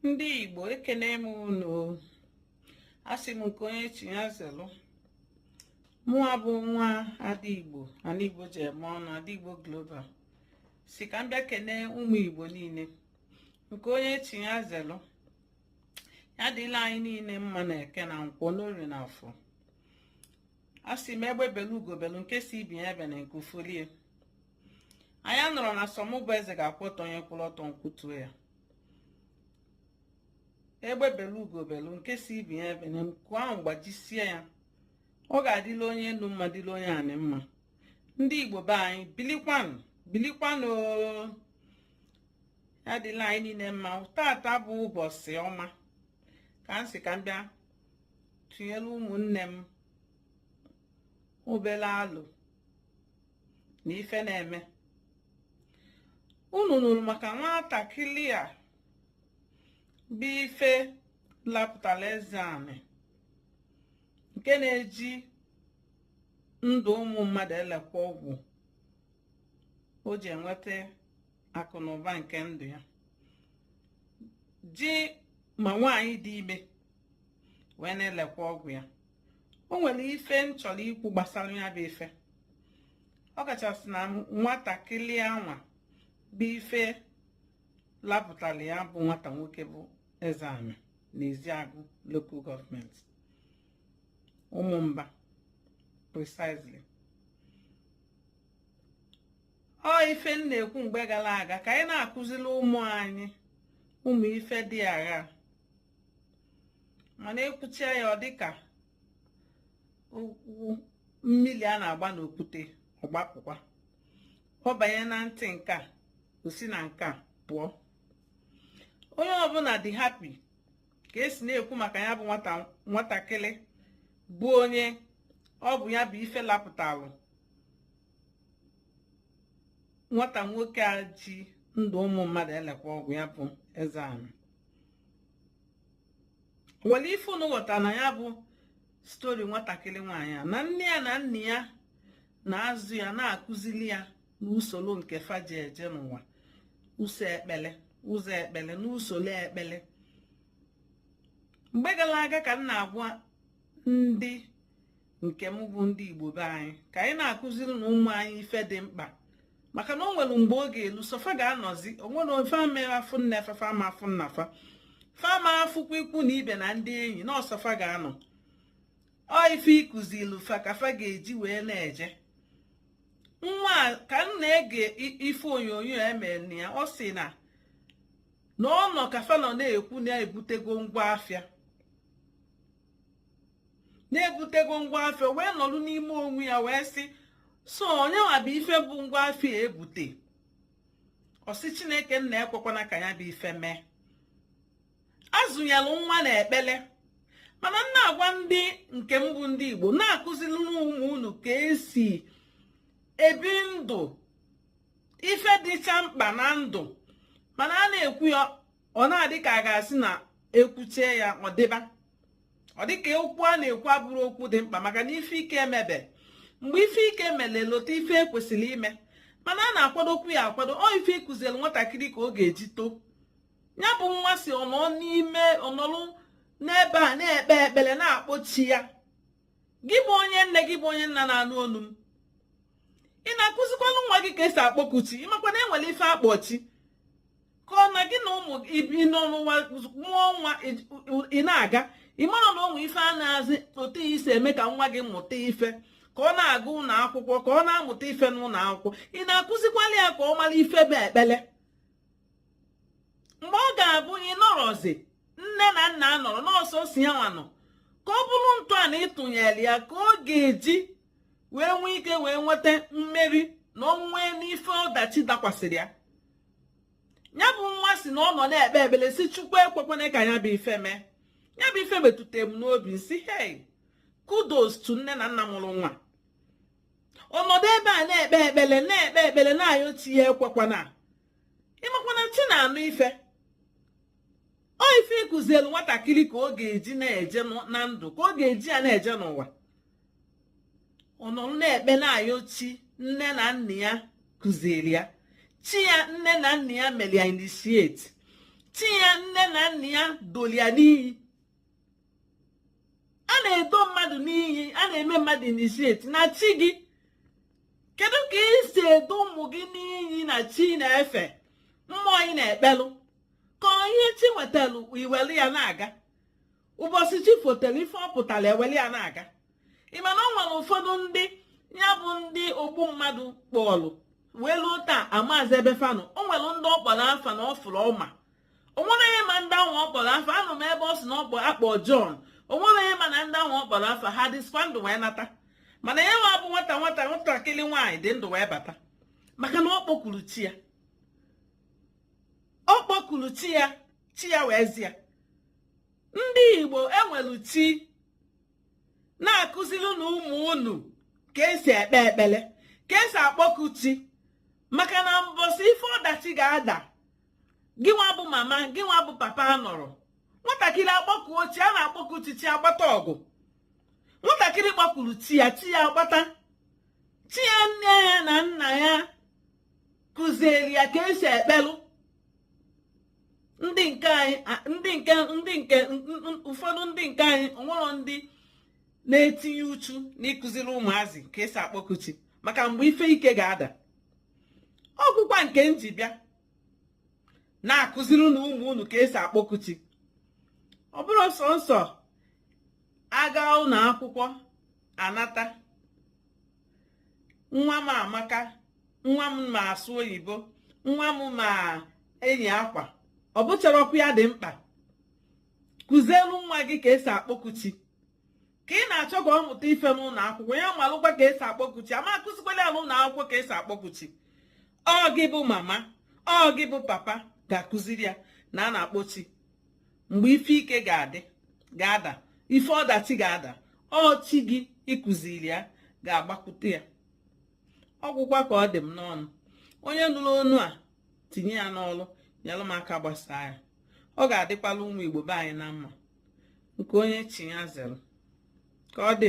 ndị igbo ekene m unu asị m nke onye chi ya zelụ mụwa bụ nwa ada igbo ana igbo ji eme ọnụ ada igbo global si ka m bịa kene ụmụ igbo niile nke onye chi ya zelụ ya dịlị anyị niile mma na eke na nkwọ n'orie na afọ asị m egbe belu ugo belu nke sị ibe ya ebena nku folie anyị anọrọ na sọ mụ bụ eze ga-akwụ ọtọ onye kwụrụ ọtọ m kụtuo ya egbe belu ugo belu nke sị ibe ya ebena nku ahụ gbajisie ya ọ ga-adịlị onye elu mma dịlị onye anị mma ndị igbo be anyị bilikwanụ bilikwanụ ya dịlị anyị niile mma tata bụ ụbọchị ọma ka m sị ka m bịa tụnyere ụmụnne m obere alo na ife na-eme unu nụrụ maka nwatakịrị a bụ ife lapụtara ezeanị nke na-eji ndụ ụmụ mmadụ elekwa ọgwụ o ji enweta akụ na ụba nke ndụ ya ji ma nwaanyị dị ime wee na-elekwa ọgwụ ya o nwere ife m chọrọ ikwu gbasara ya bụ ife ọ kachasị na nwatakịrị anwa bụ ife lapụtara ya bụ nwata nwoke bụ ezeanị na ezeagụ local government ụmụmba precisely ọ ife m na-ekwu mgbe gara aga ka anyị na-akụziri ụmụ anyị ụmụ ife dị agha mana ekwuchaa ya ọ dịka mmiri a na-agba n'okwute ọ gbapụkwa ọ banye na ntị nke a o si na nke a pụọ onye ọbụla dị happy ka esi na-ekwu maka ya bụ nwatakịrị bụ onye ọ bụ ya bụ ife lapụtalụ nwata nwoke a ji ndụ ụmụ mmadụ elekwa ọgwụ ya bụ ezeanị nwere ife unu ghọta na ya bụ story nwatakịrị nwaanyị a na nne ya na nna ya na-azụ ya na-akụzili ya n'usoro nke fa ji eje n'ụwa ụzọ ekpele ụzọ ekpele n'usoro ekpele mgbe gara aga ka m na-agwa ndị nke m bụ ndị igbo be anyị ka anyị na-akụziri nụ ụmụ anyị ife dị mkpa maka na o nwere mgbe o ga-elu sọ fa ga-anọzi onwe fa fa ama afụ nne fa fa ama afụ nna fa fa ama afụkwa ikwu na ibe na ndị enyi na ọ sọ fa ga-anọ ọ ife ị kụzilu fa ka fa ga-eji wee na-eje nwa ka m na-ege ife onyonyo e mere na ya ọ sị na na ọ nọ ka fa nọ na-ekwu na ebutego ngwa afịa na ebutego ngwa afịa wee nọrọ n'ime onwe ya wee sị so ọ ya nwa bụ ife bụ ngwa afịa ebute ọ sị chineke nna ekwekwana ka ya bụ ife mee azụnyelụ nwa na ekpele mana m na-agwa ndị nke m bụ ndị igbo na-akụziri ụmụ unu ka esi ebi ndụ ife dịcha mkpa na ndụ mana a na-ekwu ya ọ na-adị ka a ga-asị na ekwuchaa ya ọ dịba ọ dịka okwu a na-ekwu abụrọ okwu dị mkpa maka na ife ike emebe mgbe ife ike mere e lota ife ekwesịrị ime mana a na-akwadokwu ya akwado ọ ife ị kụziri nwatakịrị ka ọ ga-eji too ya bụ nwa sị ọ nọ n'ime ọ nọlụ n'ebe a na-ekpe ekpere na-akpọ chi ya gị bụ onye nne gị bụ onye nna na-anụ onu m ị na-akụzikwalụ nwa gị ka esi akpọku chi ị makwa na enwere ife a kpọ chi ka ọ na gị na ụmụ ị bi n'ụwa mụọ nwa ị na-aga ị mara na o nwe ife a na-azị otu i si eme ka nwa gị mụta ife ka ọ na-aga ụnọ akwụkwọ ka ọ na-amụta ife n'ụnọ akwụkwọ ị na-akụzikwalụ ya ka ọ mara ife bụ ekpele mgbe ọ ga-abụ ị nọrọzi nne na nna anọrọ na ọ sọsọ ya nwa nọ ka ọ bụrụ ntọana ị tụnyere ya ka ọ ga-eji wee nwee ike wee nweta mmeri na ọnwụnwa n'ife ọdachi dakwasịrị ya ya bụ nwa sị na ọ nọ na-ekpe ekpere sị chukwu ekwekwana ka ya bụ ife mee ya bụ ife metụta m n'obi m sị hei kudos to nne na nna mụrụ nwa ọ nọdụ ebe a na-ekpe ekpere na-ekpe ekpere na-ayọ chi ya ekwekwana ị makwa na chi na-anụ ife ọ ife ị kụzielu nwatakịrị ka ọ ga-eji na-eje na ndụ ka ọ ga-eji ya na-eje n'ụwa ọ nọ na-ekpe na-ayọ chi nne na nna ya kụziri ya chi ya nne na nna ya mere ya initiate chi ya nne na nna ya dolu ya n'iyi a na-edo mmadụ n'iyi a na-eme mmadụ initiate na chi gị kedu ka ị si edo ụmụ gị n'iyi na chi ị na-efe mmụọ ị na-ekpelụ ka ọ ihe chi wetara i were ya na-aga ụbọsị chi fotere ife ọ pụtara e were ya na-aga ị ma na o nwere ụfọdụ ndị ya bụ ndị ogbu mmadụ kpọọlụ wee luo taa amazị ebe fa nọ o nwere ndị ọ kpọrọ afa na ọ fụrụ ọma onwere ihe ma ndị ahụ ọ kpọrọ afa anụ m ebe ọ sị na ọ bụ akpọ John onwere ihe ma na ndị ahụ ọ kpọrọ afa ha dịsikwa ndụ wee nata mana ya nwa bụ nwata nwata nwatakịrị nwaanyị dị ndụ wee bata maka na ọ kpọkuru chi ya ọ kpọkuru chi ya chi ya wee zi ya ndị Igbo enwelu chi na-akụzirinụ ụmụ unu ka esi ekpe ekpere ka esi akpọku chi maka na mbọsị ife ọdachi ga-ada gị nwa bụ mama gị nwa bụ papa anọrọ nwatakịrị akpọkuo chi a na-akpọku chi chi agbata ọgụ nwatakịrị kpọkuru chi ya chi ya agbata chi ya nne ya na nna ya kụzieri ya ka esi ekpelụ ndị nke anyị ndị nke ndị nke ụfọdụ ndị nke anyị onwerọ ndị na-etinye uchu n'ịkụziri ụmụazị ka esi akpọku chi maka mgbe ife ike ga-ada ọgwụkwa nke m ji bịa na-akụzirinụ ụmụ unu ka esi akpọku chi ọ bụrọ sọnsọ aga ụnọ akwụkwọ anata nwa m amaka nwa m ma asụ oyibo nwa m ma enyi akwa ọ bụcharọkwa ya dị mkpa kụzielu nwa gị ka esi akpọku chi ka ị na-achọ ka ọ mụta ife n'ụnọ akwụkwọ ya malụkwa ka esi akpọku chi ama akụzikwala ya n'ụnọ akwụkwọ ka esi akpọku chi ọ gị bụ mama ọ gị bụ papa ga-akụziri ya na a na-akpọ chi mgbe ife ike ga-adị ga-ada ife ọdachi ga-ada ọ chi gị ị kụziri ya ga-agbakwute ya ọgwụkwa ka ọ dị m n'ọnụ onye nụrụ onu a tinye ya n'ọlụ nyelụ m aka gbasaa ya ọ ga-adịkwala ụmụ Igbo be anyị na mma nke onye chi ya zere ka ọ dị